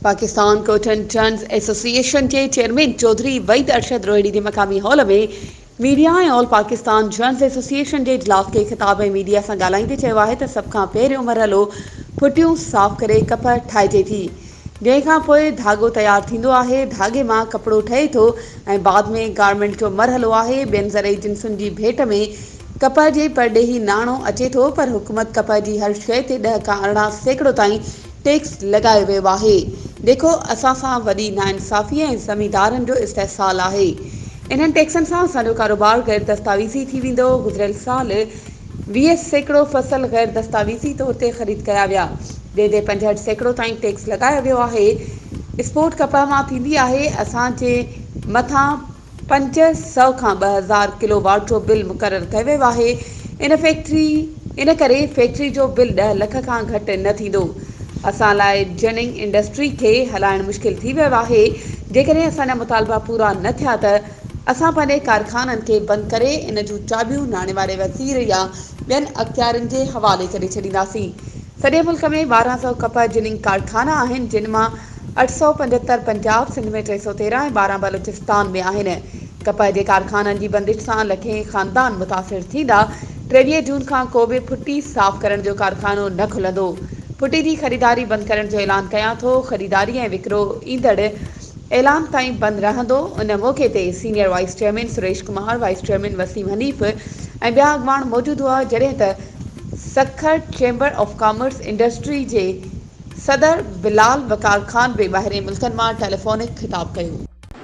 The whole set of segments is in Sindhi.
پاڪستان ڪوٽن ٽرنز ايسوسيئيشن جي چيئرمين چوڌري وحيد ارشد روهيڙي جي مقامي هال ۾ ميڊيا ۽ آل پاڪستان ٽرنز ايسوسيئيشن جي اجلاس کي خطاب ۽ ميڊيا سان ڳالهائيندي چيو آهي ته سڀ کان پهريون مرحلو پٽيون صاف ڪري ڪپهه ٺاهجي ٿي جنهن کان پوء ڌاڳو تيار ٿيندو آهي ڌاڳي مان ڪپڙو ٺهي ٿو ۽ بعد ۾ گارمينٽ جو مرحلو آهي ٻين زرعي جنسن جي ڀيٽ ۾ ڪپهه جي پرڏيهي ناڻو اچي ٿو پر حڪومت ڪپهه جي هر شئي تي ڏهه کان ارڙهن سيڪڙو تائين ٽيڪس لڳايو ويو آهي جيڪو اسان سان وڏي ناانصافي ۽ زميندارن جو استحصال آهي انهن ٽيڪسن سان اسان جو ڪاروبار غير دستاويزي ٿي ويندو گذريل سال ويهه سيڪڙو فصل غير دستاويزي طور تي خريد ڪيا ويا جنهن تي پنجهٺ سيڪڙو تائين ٽيڪس لڳايو ويو آهي اسپورٽ ڪپڙا مان ٿيندي آهي اسان جي مٿان پنج سؤ کان ٻه هزار ڪلو واٽ جو بل مقرر ڪيو ويو آهي ان فيڪٽري ان ڪري فيڪٽري جو بل ڏهه لک کان گهٽ نه ٿيندو اسان لاء جننگ انڊسٽري کي هلائڻ مشڪل ٿي ويو آهي جيڪڏهن اسان جا مطالبا پورا نه ٿيا ته اسان پنهنجي ڪارخانن کي بند ڪري ان جون چاٻيون ناڻي واري وزير يا ٻين اختيارين جي حوالي ڪري ڇڏينداسين سڄي ملڪ ۾ ٻارهن سؤ ڪپهه جننگ ڪارخانا آهن، جن مان اٺ سؤ پنجهتر پنجاب، سنڌ ۾ ٽي سؤ تيرهن ۽ ٻارهن بلوچستان ۾ آهن. ڪپهه جي ڪارخانن جي بندش سان لکين خاندان متاثر ٿيندا، ٽيويهه جون کان ڪو به ڦٽي صاف ڪرڻ جو ڪارخانو نه کلندو، ڦٽي جي خريداري بند ڪرڻ جو اعلان ڪيان ٿو، خريداري ۽ وڪرو ايندڙ اعلان تائين بند رهندو، ان موقعي تي senior vice chairman Suresh Kumar, vice chairman Waseem Hanif ۽ ٻيا اڳواڻ موجود هئا، جڏهن ته. Sukkur chamber of commerce industry جي صدر بلال وقار خان به ٻاهرين ملڪن مان ٽيليفونڪ خطاب ڪيو.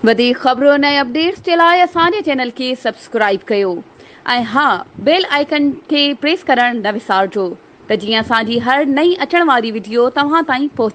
وڌيڪ خبرون ۽ اپڊيٽس جي لاء اسان جي چينل کي سبسڪرائيب ڪيو ۽ ها بيل آئيڪن کي پريس ڪرڻ نه وسارجو ته جيئن اسان جي هر نئين اچڻ واري وڊيو توهان تائين پهچي.